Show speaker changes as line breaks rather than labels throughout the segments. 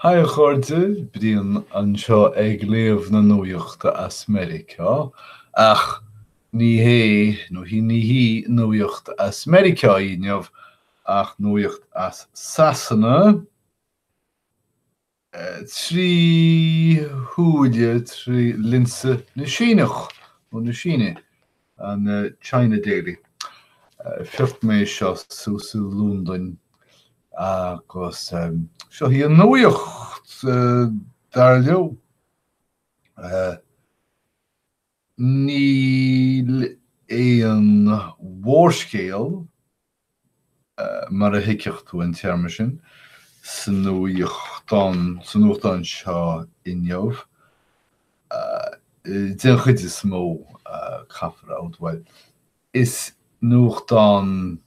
Haigh a chairde, Brian anseo ag léamh na nuaíochta as Meiriceá, ach ní hé, nó hí, ní hí nuaíocht as Meiriceá í inniu ach nuaíocht as Sasana, trí shúile, trí lionsa na Síneach, ó, na Síne, an China Daily. Phioc mé seo suas i Lúndain agus seo hí an nuaíocht dar leo. Níl aon mhórscéal, mar a thuigfeadh tú an téarma sin, sa nuachtán, sa nuachtán seo inniu, den chuid is mó, caithfear a admháil is nuachtán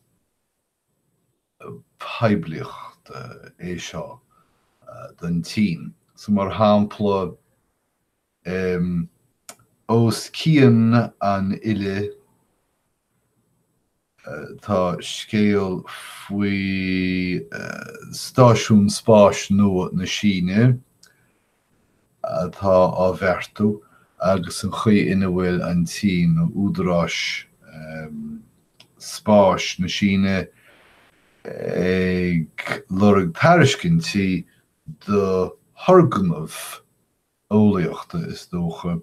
poiblíochta é seo don tSín. So mar shampla, ós cionn an fhillte tá scéal faoi stáisiún spáis nua na Síne, atá á bheartú agus an chaoi ina bhfuil an tSín, nó údaráis spáis na Síne, ag lorg tairiscintí do thurgnaimh eolaíochta, is dócha,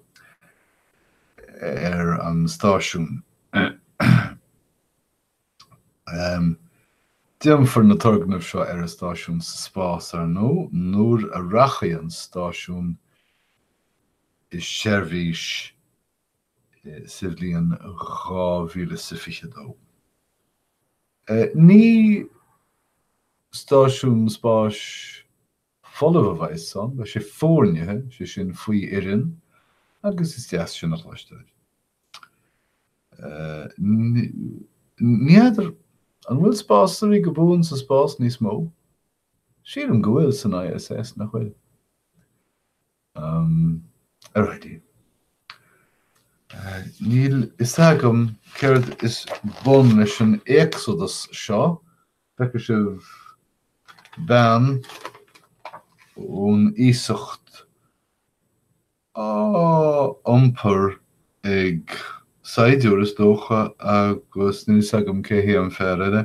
ar an stáisiún. Déanfar na turgnaimh seo ar an stáisiún sa spás, ar ndó, nuair a rachaidh an stáisiún i seirbhís sa bhliain 2022. Ní stáisiún spáis folamh a bheas ann, beidh sé foirnithe, sé sin faoi fhoireann agus is deas sin a chloisteáil. Ní fheadar an bhfuil spásairí go buan sa spás níos mó? Sílim go bhfuil san ISS, nach bhfuil? Alrighty. Níl fhios agam céard is bun leis an Éacsadas seo, feicfidh sibh bean ón iasacht á iompar ag saighdiúir is dócha agus níl fhios agam cé hé an fear eile.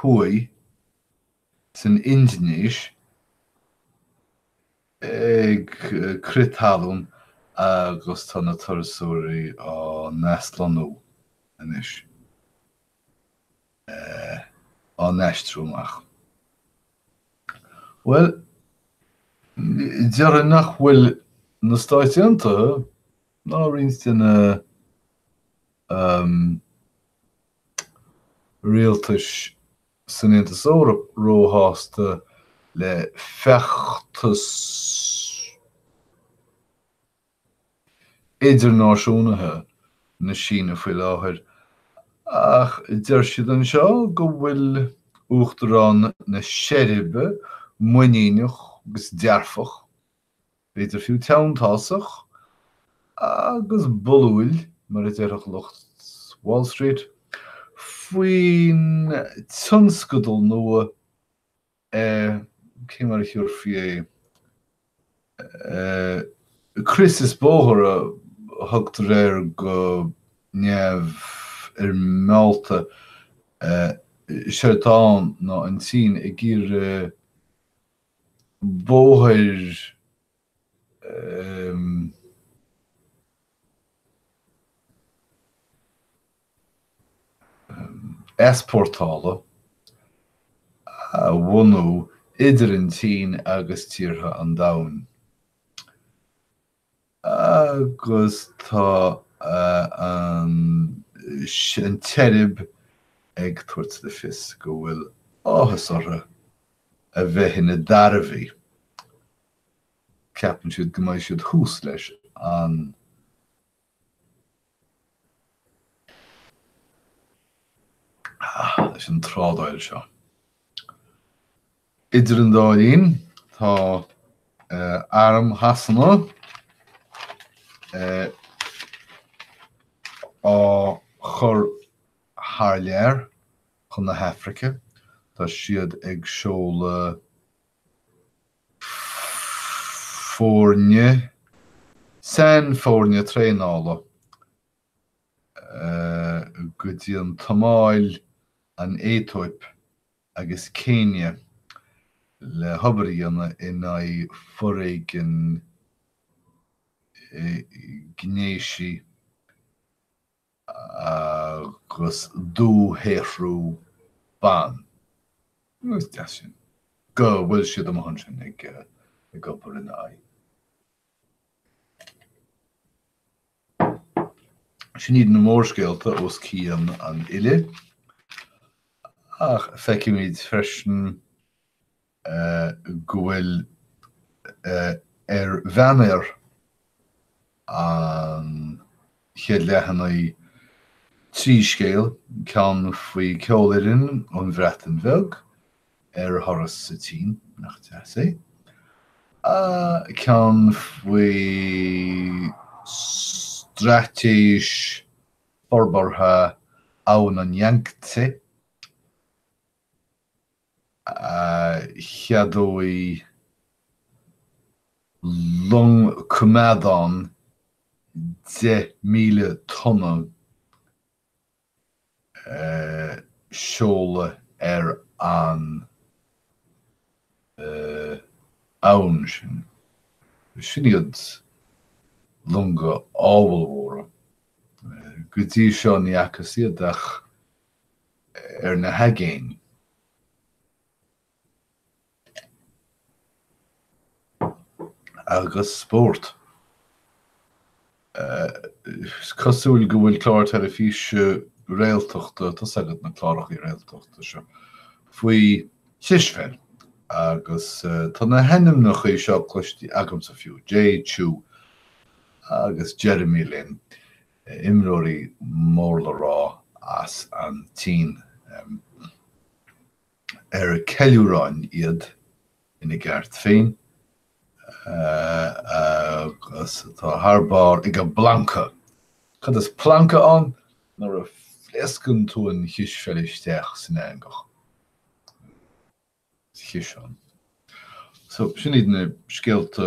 Thuaidh, san Indinéis, ag crith talún agus tá na turasóirí á n-aslonnú anois, á n-aistriú amach. Bhuel, déarfainn nach bhfuil na Stáit Aontaithe ná roinnt de na. rialtais san Aontas Eoraip róshásta le feachtas idirnáisiúnaithe na Síne faoi láthair, ach deir siad anseo go bhfuil Uachtarán na Seirbe muiníneach agus dearfach. b'fhéidir fiú teanntásach agus bullúil, mar a déarfadh lucht Wall Street, faoin tionscadal nua eh, cé mar a thiúrfaí é, eh, crios is bóthar a thugtar air go neamhfhoirmeálta, eh, séard atá ann ná an tSín ag iarraidh, bóthar easpórtála a bhunú idir an tSín agus tíortha an domhain. Agus tá an tSeirb ag tabhairt le fios go bhfuil áthas orthu a bheith ina dtairbhí. Ceapann siad go mbeidh siad thuas leis an, leis an trádáil seo. Idir an dá linn, tá Arm Shasana á chur thar lear chun na hAifrice. Tá siad ag seoladh foirne, sainfhoirne traenála, go dtí an tSomáil, an Aetóip, agus Céinia le hobair a dhéanamh in aghaidh foréigean gnéisí agus dúshaothrú ban. Nó is deas sin go bhfuil siad amuigh ansin ag obair in aghaidh. Sin iad na mórscéalta os cionn an fhillte, ach feicimid freisin go bhfuil ar bhanner an chéad leathanaigh trí scéal, ceann faoi ceolfhoireann ón Bhreatain Bheag, ar thuras sa tSín, nach deas é? ceann faoi straitéis forbartha abhann an Yangtse a cheadóidh long coimeádán 10,000 tonna seoladh ar an abhainn sin. Sin iad longa ábhalmhóra. Go dtí seo ní fhacthas iad ach ar na haigéin. agus spórt. Is cosúil go bhfuil clár teilifíse réaltachta tá a fhios agat na clárachaí réaltachta seo faoi chispheil agus tá na hainmneachaí seo cloistí agamsa fiú, Jay Chou agus Jeremy Lin, imreoirí mór-le-rá as an tSín. ar ceiliúráin iad ina gceart féin, agus atá thar barr ag an bplancadh. Cad is plancadh ann? Nuair a phléascann tú an chispheil isteach san eangach. Ciseán. So, sin iad na scéalta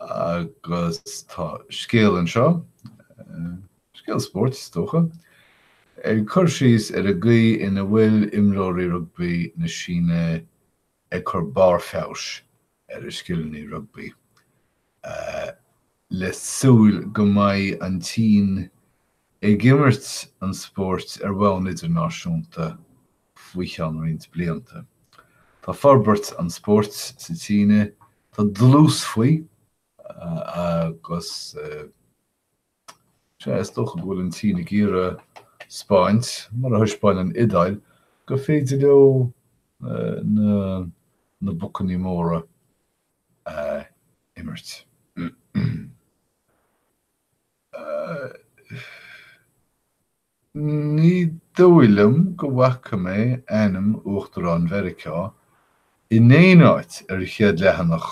Agus tá scéal anseo, scéal spóirt is dócha, ag cur síos ar an gcaoi ina bhfuil imreoirí rugbaí na Síne ag cur barr feabhais ar a scileanna rugbaí le súil go mbeidh an tSín ag imirt an spóirt ar bhonn idirnáisiúnta faoi cheann roinnt blianta. Tá forbairt an spóirt sa tSín, tá dlús faoi agus is dócha go bhfuil an tSín ag iarraidh a thaispáint, mar a thaispeáin an Iodáil, gur féidir leo na bocannaí móra a imirt. Ní dóigh liom go bhfaca mé ainm Uachtarán Mheiriceá in aon áit ar chéad leathanach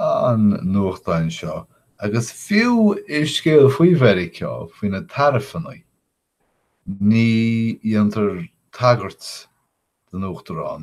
an nuachtáin seo agus fiú i scéal faoi Mheiriceá, faoi na taraifeanna, ní dhéantar tagairt don Uachtarán.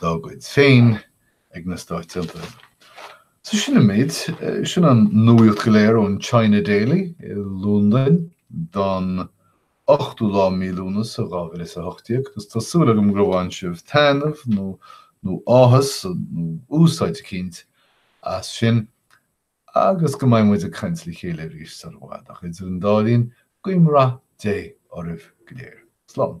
dá gcuid féin ag na Stáit Aontaithe. So sin an méid. Sin an nuaíocht go léir ón China Daily i Lúndain don ochtú lá mí Lúnasa dhá mhíle is a hocht déag agus tá súil agam gur bhain sibh taithneamh nó nó áthas nó úsáid eicínt as sin agus go mbeidh muid ag caint le chéile arís sar i bhfad ach idir an dá linn guím rath Dé oraibh go léir. Slán.